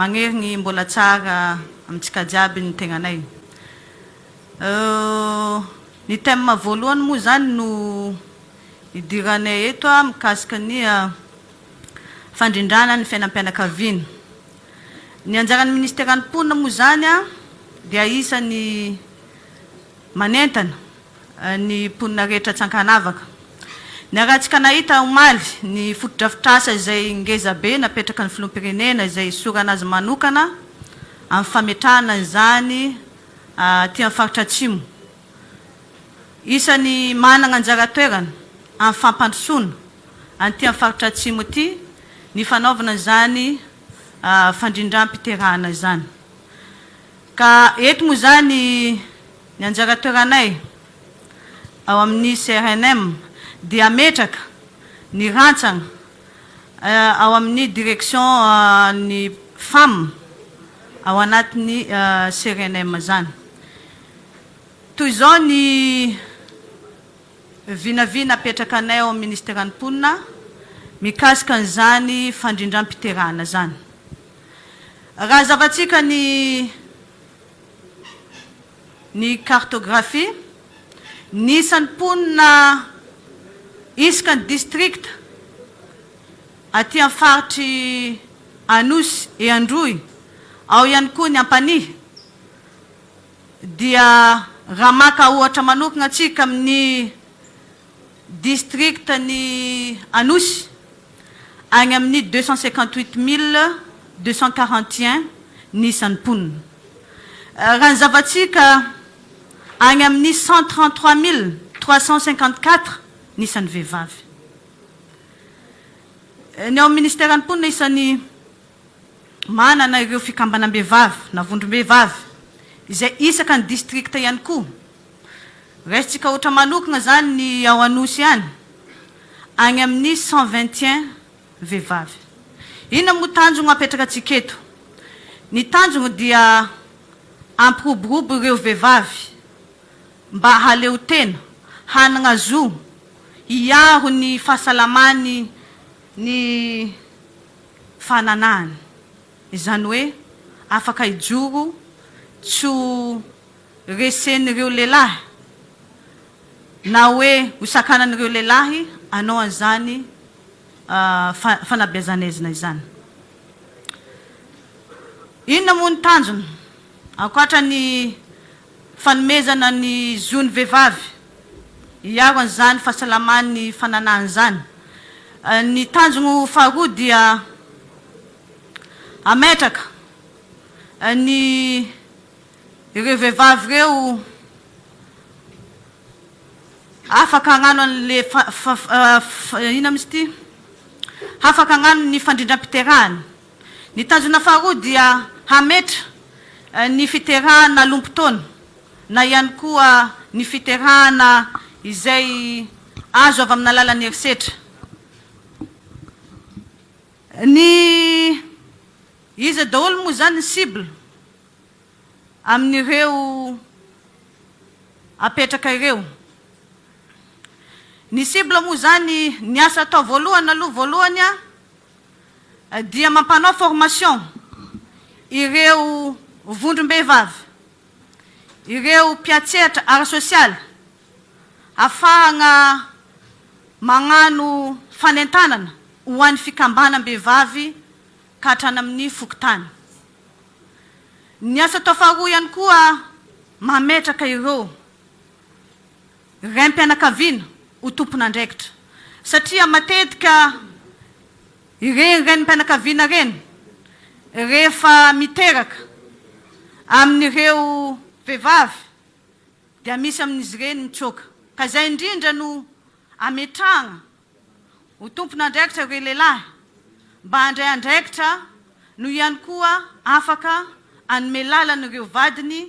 Magnery ny mbola tsara amintsika jiaby ny tegnanay euh. Ny thème voalohany moa zany no idiranay eto a, mikasika ny fandrindrana ny fiainam-pianakaviana. Ny anjaran'ny Ministeran'ny Mponina moa zany a dia isan'ny manentana. ny mponina rehetra tsy ankanavaka. Ny haratsika nahita omaly ny fotodrafitrasa izay ngeza be napetraky ny filoham-pirenena izay hisorana azy manokana amin'ny fametrahana izany aty amin'ny faritra atsimo isan'ny manana anjara toerana amin'ny fampandrosoana an'ity amin'ny faritra atsimo ity ny fanaovana izany fandrindram-piterahana izany ka eto moa izany Ny anjara toeranay ao amin'ny CRNM dia hametraka ny rantsana ao amin'ny direction ny femmes ao anatin'ny CRNM izany. Toy izao ny vinavina apetrakanay ao amin'ny Ministeran'ny Mponina mikasika an'izany fandrindram-piterahana izany. Raha zavantsika ny. ny cartographie, ny isan'ny mponina isaka ny distrikta aty amin'ny faritry Anosy et Androy, ao ihany koa ny Ampanihy, dia raha maka ohatra manokana tsika amin'ny Distrikan'i Anosy, agny amin'ny deux cent cinquante huit mille deux cent quarante et un ny isan'ny mponina. Raha ny zava-tsika, agny amin'ny cent trente trois mille trois cent cinquante quatre ny isan'ny vehivavy. Ny ao amin'ny Minisiteran'ny Mponina, isan'ny manana ireo fikambanam-behivavy na vondrom-behivavy izay isaka ny distrikta ihany koa. Raisintsika ohatra manokana izany ny ao Anosy any, any amin'ny cent vingt et un vehivavy. Inona moa tanjona apetrakantsika eto? Ny tanjona dia hampiroborobo ireo vehivavy mba haleo tena, hanana zo hiaro ny fahasalamany ny fananahany. Izany hoe afaka hijoro tsy ho resen'ireo lehilahy na hoe hosakanan'ireo lehilahy hanao an'izany fanabeazan'aizina izany. Inona moa ny tanjona? Ankoatra ny fanomezana ny zon'ny vehivavy hiaro an'izany fahasalamany fananahany izany, ny tanjona faharoa dia hametraka ny Ireo vehivavy ireo afaka hagnano an'le inona mihintsy ity? Hafaka hagnano ny fandrindram-piterahany. Ny tanjona faharoa dia hametra ny fiterahana alom-potoana na ihany koa ny fiterahana izay azo avy amin'ny alalan'ny herisetra. Ny iza daholo moa izany ny cible? amin'ireo apetraka ireo. Ny cible moa izany, ny asa atao voalohany aloha voalohany dia mampanao formation ireo vondrom-behivavy, ireo mpiantsehatra ara-sosialy afahagna magnano fanentanana ho an'ny fikambanam-behivavy ka hatrany amin'ny fokontany. Ny asa atao faharoa ihany koa mametraka ireo raim-pianakaviana ho tompon'andraikitra satria matetika ireny renim-pianakaviana ireny rehefa miteraka amin'ireo vehivavy dia misy amin'izy ireny mitsoaka ka izay indrindra no ametrahana Ho tompon'andraikitra ireo lehilahy mba handray andraikitra no ihany koa afaka hanome lalana ireo vadiny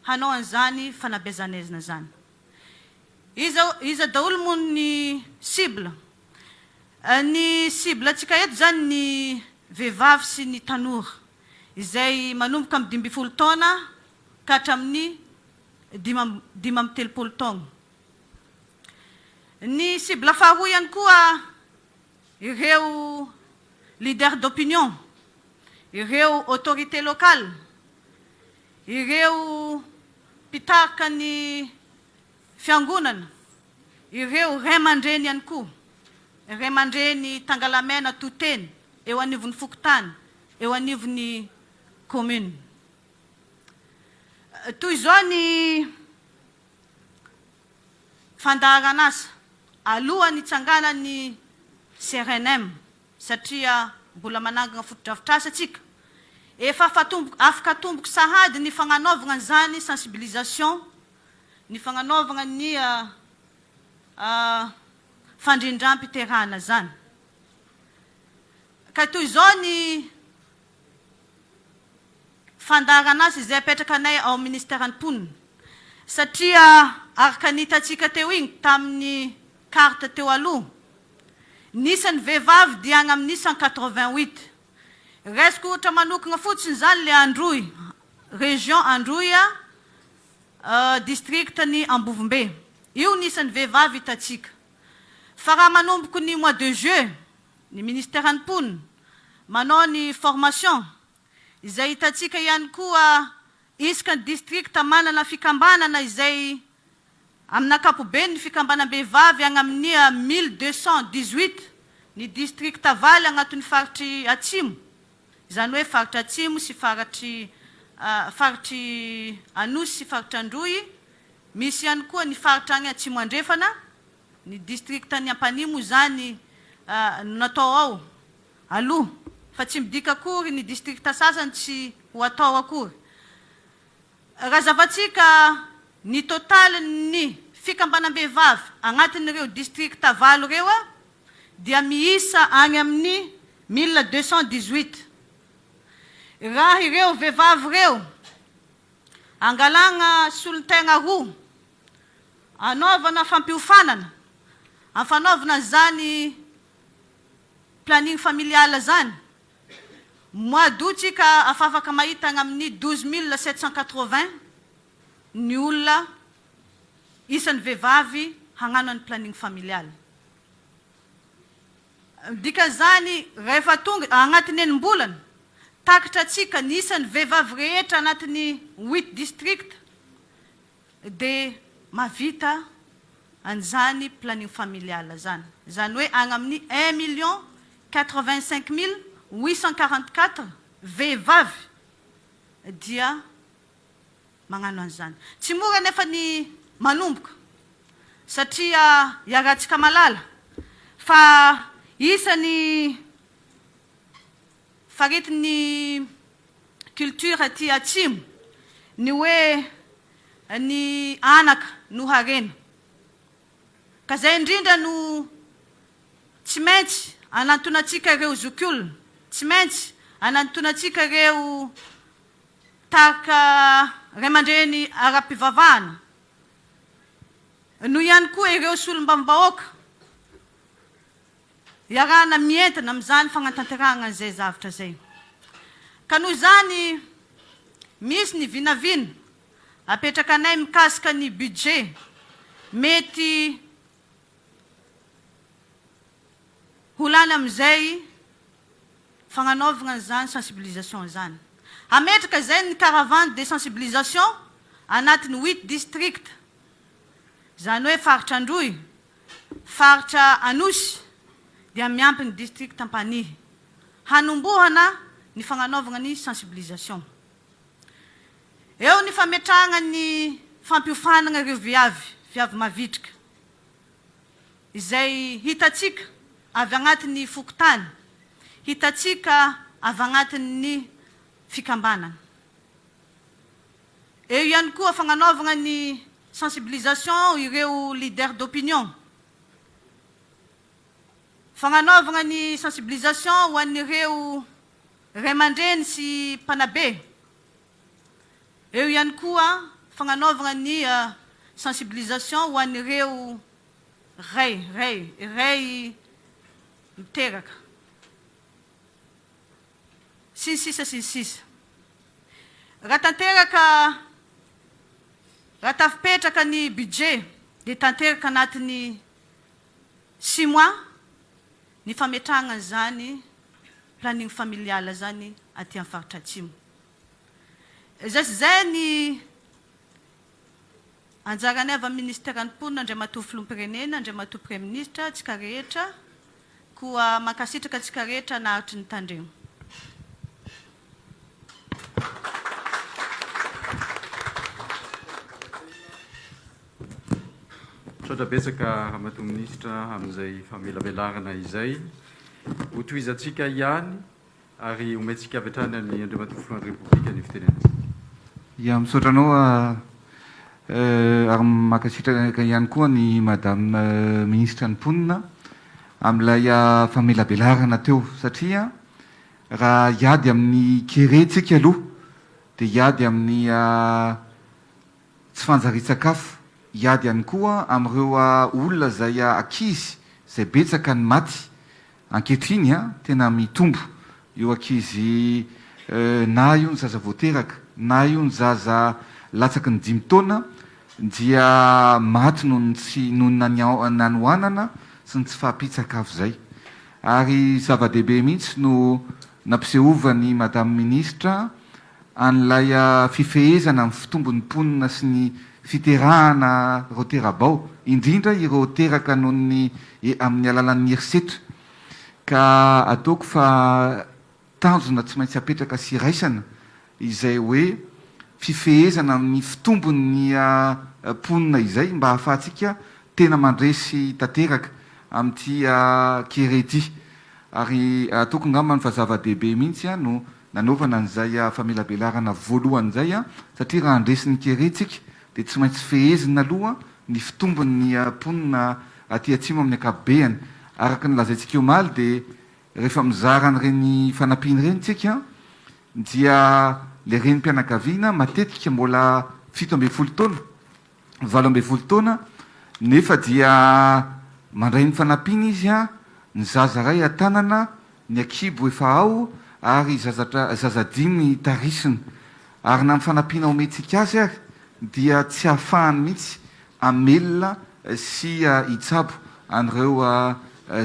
hanao an'izany fanabeazan'aizina izany. Iza, iza daholo moa ny cible? Ny cible antsika eto izany ny vehivavy sy ny tanora izay manomboka amin'ny dimy ambin'ny folo taona ka hatramin'ny dima, dimy amby telopolo taona. Ny cible faharoa ihany koa ireo leader d'opinion, ireo autorités locales, ireo mpitarika ny fiangonana, ireo ray aman-dreny ihany koa, ray aman-dreny tangalamena to-tena eo anivon'ny fokontany, eo anivon'ny commune. Toy izao ny. Fandaharan'asa, Alohan'ny hitsanganan'ny CRNM, satria mbola manangana fotodrafitrasa isika, efa afaka atomboky sahady ny fagnanaovagna an'izany sensibilisation, ny fagnanaovagna ny fandrindram-piterahana izany. Ka toy izao ny fandaharana azy izay apetrakanay ao amin'ny Minisiteran'ny Mponina satria araka ny hitantsika teo iny tamin'ny carte teo aloha, ny isan'ny vehivavy dia any amin'ny cent quatre-vingt-huit. Raisiko ohatra manokana fotsiny izany ilay Androy, région Androy, district ny Ambovombe. Io ny isan'ny vehivavy hitantsika. Fa raha manomboko ny mois de juillet Ny ministeran'ny mponina manao ny formation izay hitantsika ihany koa isaka ny district manana fikambanana izay amin'ny ankapobeny ny fikambanam-behivavy any amin'ny mille deux cent dix huit ny district valo anatin'ny faritry atsimo izany hoe faritra atsimo sy faritry faritry anosy sy faritr'androy misy ihany koa ny faritra any atsimo andrefana Ny distriktan'i Ampanihy moa izany no natao ao aloha fa tsy midika akory ny distrikta sasany tsy ho atao akory. Raha zavatsika ny totalin'ny fikambanam-behivavy agnatin'ireo distrikta valo ireo dia miisa agny amin'ny mille deux cent dix-huit. Raha ireo vehivavy ireo angalagna solontegna roa. Anaovana fampiofanana, amin'ny fanaovana izany planning familial izany, mois d'aout tsika afafaka mahita any amin'ny douze mille sept cent quatre-vingts ny olona isan'ny vehivavy hagnano an'ny planning familial. Ny dikan'izany, rehefa tonga, agnatin'ny enim-bolana, takitra antsika ny isan'ny vehivavy rehetra agnatin'ny huit districts. dia mahavita an'izany planning familial izany. Izany hoe agny amin'ny un million quatre vingt cinq mille huit cent quarante quatre vehivavy dia magnano an'izany. Tsy mora anefa ny manomboka satria iarahantsika malala fa isan'ny Faritin'ny culture aty atsimo ny hoe ny anaka no harena. Ka zay indrindra no tsy maintsy anantonantsika ireo zokiolona, tsy maintsy anantonantsika ireo tarika ray aman-dreny ara-pivavahana, noho ihany koa ireo solombavambahoaka. Iarahana mientana amin'izany fagnatanterahagna izay zavatra izay. Ka noho izany, misy ny vinavina apetrakanay mikasika ny budget mety ho lany amin'izay fagnanaovagna an'izany sensibilisation izany. Hametraka izay ny caravane de sensibilisation agnatin'ny huit districts, izany hoe faritra Androy, Faritra Anosy dia miampy ny district Ampanihy hanombohana ny fagnanaovagna ny sensibilisation. Eo ny fametrahagna ny fampiofanagna ireo viavy, viavy mavitrika, izay hitatsika avy agnaty ny fokontany, hitatsika avy agnaty ny fikambanagna. Eo ihany koa fagnanaovagna ny sensibilisation ireo leader d'opinion, fagnanaovagna ny sensibilisation ho an'ireo ray aman-dreny sy mpanabe, eo ihany koa fagnanaovagna ny sensibilisation ho an'ireo ray, ray, ray miteraka. Sy ny sisa sy ny sisa. Raha tanteraka, raha tafipetraka ny budget dia tanteraka anatin'ny six mois ny fametrahana an'izany planning familial izany aty amin'ny faritra Atsimo. Izay sy izay ny Anjaran'ny avy amin'ny Ministeran'ny Mponina, Andriamatoa Filoham-pirenena, Andriamatoa Praiminisitra, antsika rehetra, koa mankasitraka antsika rehetra naharitry ny tandremo. Misaotra betsaka Ramatoa Minisitra amin'izay famelabelarana izay. Hotohizantsika ihany. ary omentsika avy hatrany an'i Andriamatoa Filohan'ny Repoblika ny fitenenana. Ya, misaotra anao ary mankasitraka ihany koa an'i Madame Minisitra ny Mponina amin'ilay famelabelarana teo satria raha hiady amin'ny kere tsika aloha dia hiady amin'ny Tsy fanjarian-tsakafo. Hiady ihany koa amin'ireo olona izay ankizy izay betsaka ny maty ankehitriny, tena mitombo io ankizy na io ny zaza vao teraka na io ny zaza latsaky ny dimy taona dia maty noho ny tsy noho ny hanoanana sy ny tsy fahampian-tsakafo izay ary zava-dehibe mihitsy no nampisehovan' i Madame Ministra an'ilay fifehezana ny fitombon'ny mponina sy ny fiterahana ireo tera-bao, indrindra ireo teraka noho ny amin'ny alalan'ny herisetra, ka ataoko fa tanjona tsy maintsy apetraka sy raisana izay hoe fifehezana amin'ny fitombon'ny mponina izay mba ahafahantsika tena mandresy tanteraka amin'ity kere ity, ary ataoko angambany fa zava-dehibe mihitsy no Nanaovana an'izay famelabelarana voalohany izay satria raha handresy ny kere isika dia tsy maintsy fehezina aloha ny fitombon'ny mponina aty Atsimo amin'ny ankapobehany. Araka ny lazaintsika omaly dia rehefa mizara an'ireny fanampiana ireny isika dia ilay renim-pianakaviana matetika mbola fito ambin'ny folo taona valo ambin'ny folo taona nefa dia mandray ny fanampiana izy a, ny zaza ray an-tanana, ny ankibo efa ao ary zazatra zaza dimy tarisina ary na ny fanampiana omentsika azy ary dia tsy ahafahany mihitsy hamelona sy hitsabo an'ireo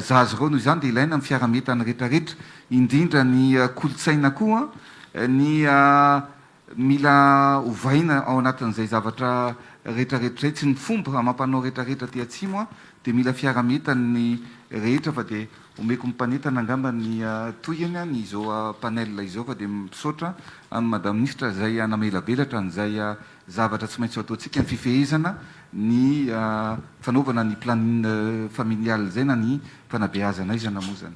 zaza ireo, noho izany dia ilaina ny fiaraha-mietan'ny rehetrarehetra indrindra ny kolontsaina koa ny Mila ovaina ao anatin'izay zavatra rehetrarehetra izay, tsy ny fomba amam-panao rehetrarehetra aty Atsimo an, dia mila fiaraha-mientan' ny rehetra fa dia omeko ny mpanentana angamba ny tohiny an, izao panel izao fa dia misaotra an'i Madame Minisitra izay hanamelabelatran' izay zavatra tsy maintsy ataontsika, ny fifehezana ny fanaovana ny planning familial izay na ny fanabeazana aizana moa izany.